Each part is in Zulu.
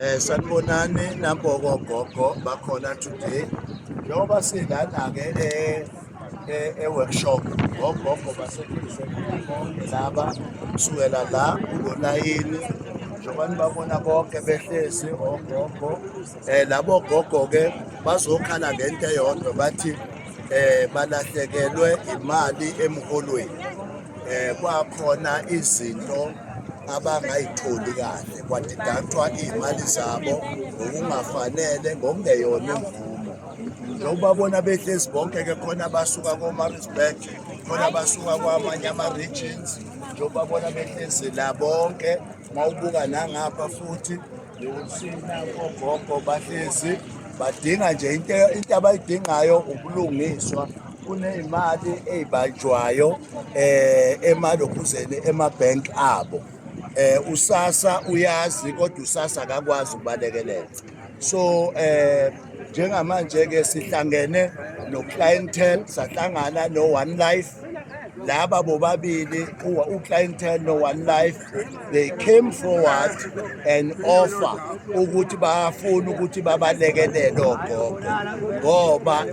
Eh sanibonani nagogo gogo bakhona today njengoba silana ke eh e-workshop ngogogo basetshenziswe bonke laba kusukela la kulolayini njengoba nibabona bonke behlezi ogogo um labo gogo-ke bazokhala ngento eyodwa bathi um balahlekelwe imali emholweni eh kwakhona izinto abangayitholi kahle kwadidacwa iy'mali zabo ngokungafanele ngokungeyona imvumo njengoba bona behlezi bonke-ke khona abasuka komarisburg khona abasuka kwamanye ama-regions njengoba bona behlezi la bonke uma ubuka nangapha futhi Yokusina kogogo bahlezi badinga nje into into abayidingayo ubulungiswa kuneyimali ezibanjwayo eh emalokhuzeni emabank abo eh usasa uyazi kodwa usasa akakwazi ukubalekelela so eh njengamanje ke sihlangene no clientele sahlangana no one life laba bobabili uclientel no-one life they came forward and offer ukuthi bafuna ukuthi babalekelele ogogo ngoba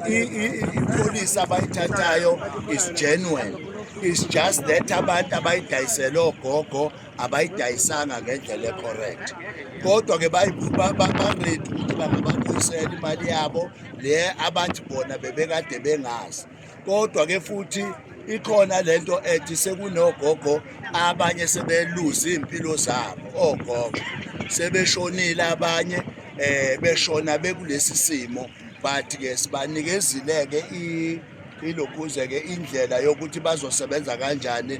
ipolisi abayithathayo is genuine is just that abantu abayidayisele ogogo abayidayisanga ngendlela ecorrect kodwa ke baready ukuthi bangababuyisela imali yabo le abantu bona bebekade bengazi kodwa ke futhi ikhona lento ethi sekunogogo abanye sebeluza impilo zabo ogogo sebeshonile abanye eh beshona bekulesi simo but ke sibanikezile ke ilokhuze ke indlela yokuthi bazosebenza kanjani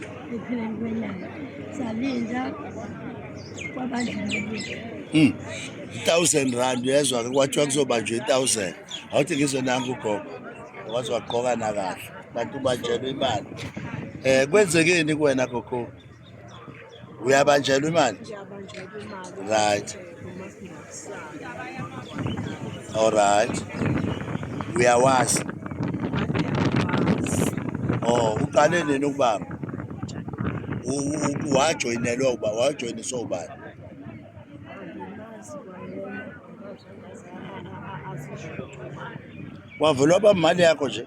ekupheleni kwenyanga salinda kwabandlululile Hmm. i-thousand rand uyezwa ke kwathiwa kuzobanjwa i-thousand awuthi ngizonanga ugogo waze wagqoka nakahle kanti ubanjelwe imali um kwenzekeni kuwena gogo uyabanjelwa imali ngiyabanjelwa imali Right. eh, kumasipala. Alright. Uyawazi. Oh, uqale nini ukubamba? Wajoyinelwa uba wajoyiniswa ubani? Wavulwa bamali yakho nje.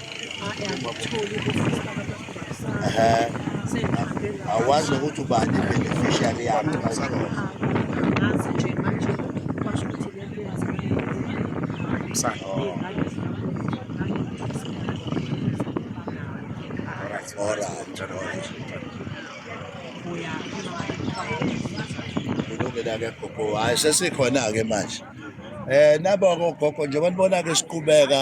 awazi nokuthi ubani beneficiary yakhe kulungile-ke gogo hhayi sesikhona-ke manje um nabo-ke ogogo njengoba nibona-ke siqhubeka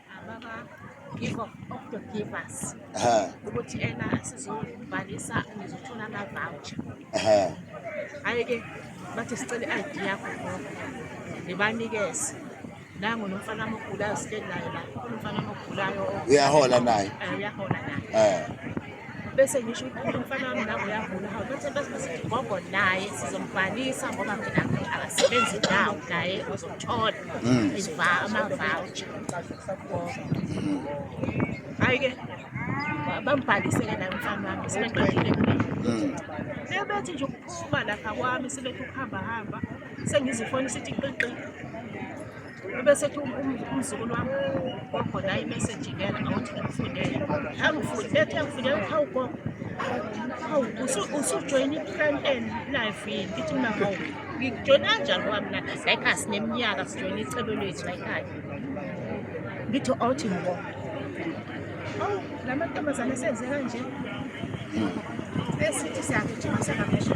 ukuthi ena sizobhalisa ngizothola ama-voucher hhayi-ke bathi sicela i-id yakho ngibanikeze nangu nomfana amogulayo sihleli naye la kunomfana amogulayo uyahola naye uyahola naye bese ngisho ukuthi umfana wami nabo uyagula hawu bathi basigogo naye sizombhalisa ngoba phela akasebenzi ndawo naye uzothola mm. amavoucher hhayi-ke mm. bambhaliseke naye umfana wami sebeqedile mm. sebethi nje ukuphuma lapha kwami sebethi ukuhamba hamba sengizifonisa ithi qiqi bese ethi umzukulu wami gogo naye imeseji ngena ngawuthi ngimfundele angifundi bethe ngifundele ukhawu gogo hawu usujoyina i-plan n life yini ithi mina hawu ngijoyina kanjani ngoba mina like asineminyaka sijoyina icebo lethu layikhaya ngithi awuthi ngibo hawu la mantombazane senze kanje esithi siyagijima sengamesha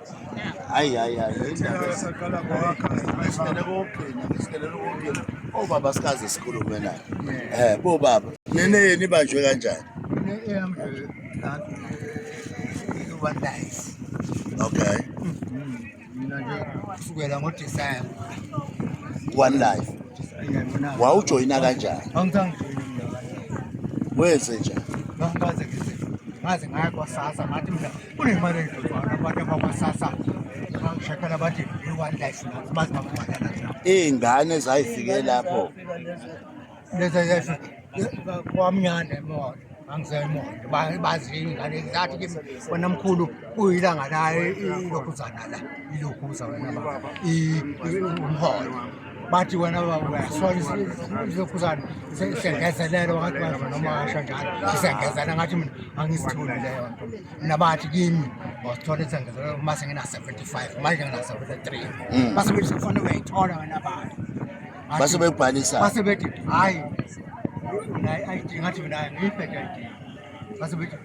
hayi hayi hayi obaba oh, sikaze sikhulume naye eh bobaba nene yena ibanjwe kanjani okay mina nje kusukela ngoDecember one life wawujoyina kanjani angithandi wenze njani ngaze ngaye kwasasa ngathi mhlawumbe kunemali ezothwala abantu abakwasasa bashakala bathi i-one life nathi bazi bababhadala zabo iy'ngane zayifike lapho leza yesu kwamnyane emoto angisemoto bazi iy'ngane zathi kimi wena mkhulu kuyilanga la ilokhu uzana la ilokhu uza wena baba umholo bathi wena soyizokhuzana sengezelele wakathi wazwa noma washo njalo isengezele ngathi mina angisitholi leyo nto mina bathi kimi wasithola isengezelele uma sengina-seventy five manje ngina-seventy three mm. base bethi kufanele uyayithola wena bathi base bekubhalisa base bethi hhayi mina i-id ngathi mina ngiyibhede i-id base bethi